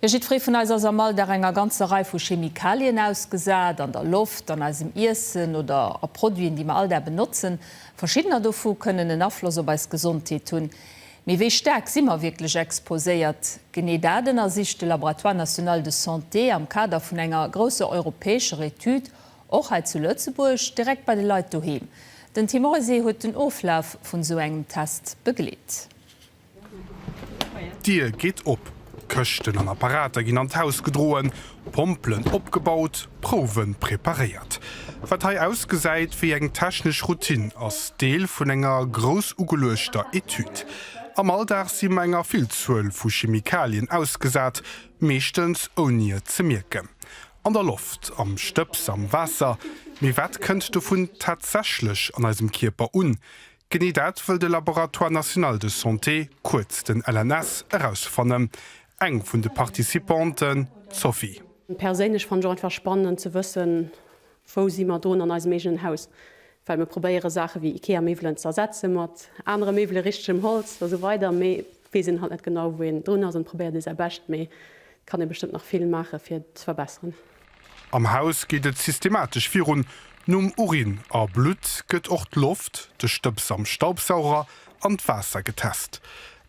Jo, jiddweree vun eis ass am Alldag enger ganzer Rei vu Chemikalien ausgesat, an der Loft, an eisem Iessen oder a Produiten, déi mer all Dag benotzen. Verschiddener dovu kënnen en Afloss op eis Gesondheet hunn. Mee wéi staark si mer wierklech exposéiert? Genee dat ënnersicht de Laboratoire national de santé am Kader vun enger grousser europäescher Etüd, och hei zu Lëtzebuerg, direkt bei de Leit doheem. Den Tim Reusé huet den Oflaf vun esou engem Test begleet. D'Dier geet op, Këschten an Apparater ginn an d'Haus gedroen, Pompelen opgebaut, Prouwen preparéiert. Wat hei ausgesäit wéi eng technesch Routine, ass Deel vun enger grouss ugeluechter Etüd. Am Alldag si mer enger Villzuel vu Chemikalien ausgesat, meeschtens ouni et ze mierken. An der Loft, am Stëbs, am Waasser. Mee wat kënnt dovun tatsächlech an eisem Kierper un? Genee dat wëll de Laboratoire National de Santé, kuerz den LNS, erausfannen. Eng vun de Participanten, d'Sophie. Perséinlech fannen ech och einfach spannend ze wëssen, wou si mer dron an eisem eegenen Haus. Well mir probéiere Saache wéi Ikea-Méiwelen ze ersetze mat anere Méiwele, richtegem Holz a sou weider, mee et weess een halt net genau, wou een drun ass an et probéiert ee säi Bescht, mee et kann ee bestëmmt nach vill maache fir et ze verbesseren. Am Haus geet et systematesch virun, Nom Urin a Blutt gëtt och d'Loft, de Stëbs am Staubsauger an d'Waasser getest.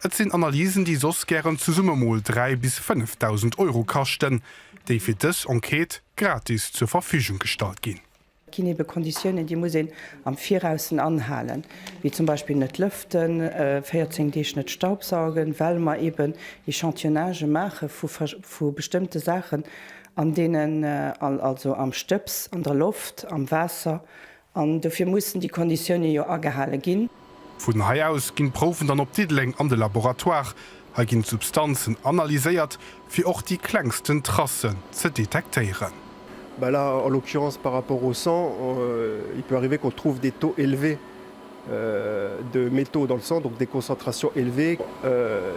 Et sinn Analysen, déi soss gären zesumme mol 3 bis 5.000 Euro kaschten, déi fir dës Enquête gratis zur Verfügung gestallt ginn. Et ginn eebe Konditiounen, déi muss een am Viraus anhalen, wéi zum Beispill net lëften, 14 Deeg net staubsaugen, well mer eeben Echantillonnagen maache vu bestëmmte Saachen, an deenen, also am Stëbs, an der Loft, am Waasser, an dofir mussen déi Konditiounen jo agehale ginn. Vun hei aus ginn d'Prouwen dann op Diddeleng an de Laboratoire. Hei ginn d'Substanzen analyséiert, fir och déi klengsten Tracen ze detektéieren. Ben là, en l'occurrence par rapport au sang, il peut arriver qu'on trouve des taux élevés de métaux dans le sang, donc des concentrations élevées.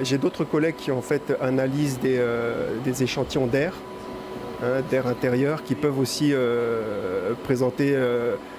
J'ai d'autres collègues qui ont fait analyse des échantillons d'air, d'air intérieur, qui peuvent aussi présenter.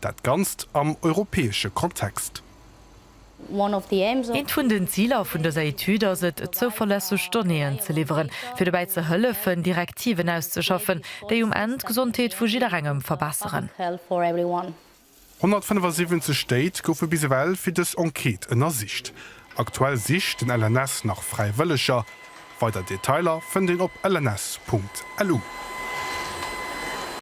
Dat Ganzt am europäesche Kontext. Eent vun den Ziler vun dëser Etüd ass et, zouverlässeg Donnéeën ze liwweren, fir dobäi ze hëllefen, Direktiven auszeschaffen, déi um Enn d'Gesondheet vu jidderengem verbesseren. 175 Stéit goufe bis ewell fir dës Enquête ënnersicht. Aktuell sicht den LNS nach Fräiwëlleger. Weider Detailer fënnt een op lns.lu.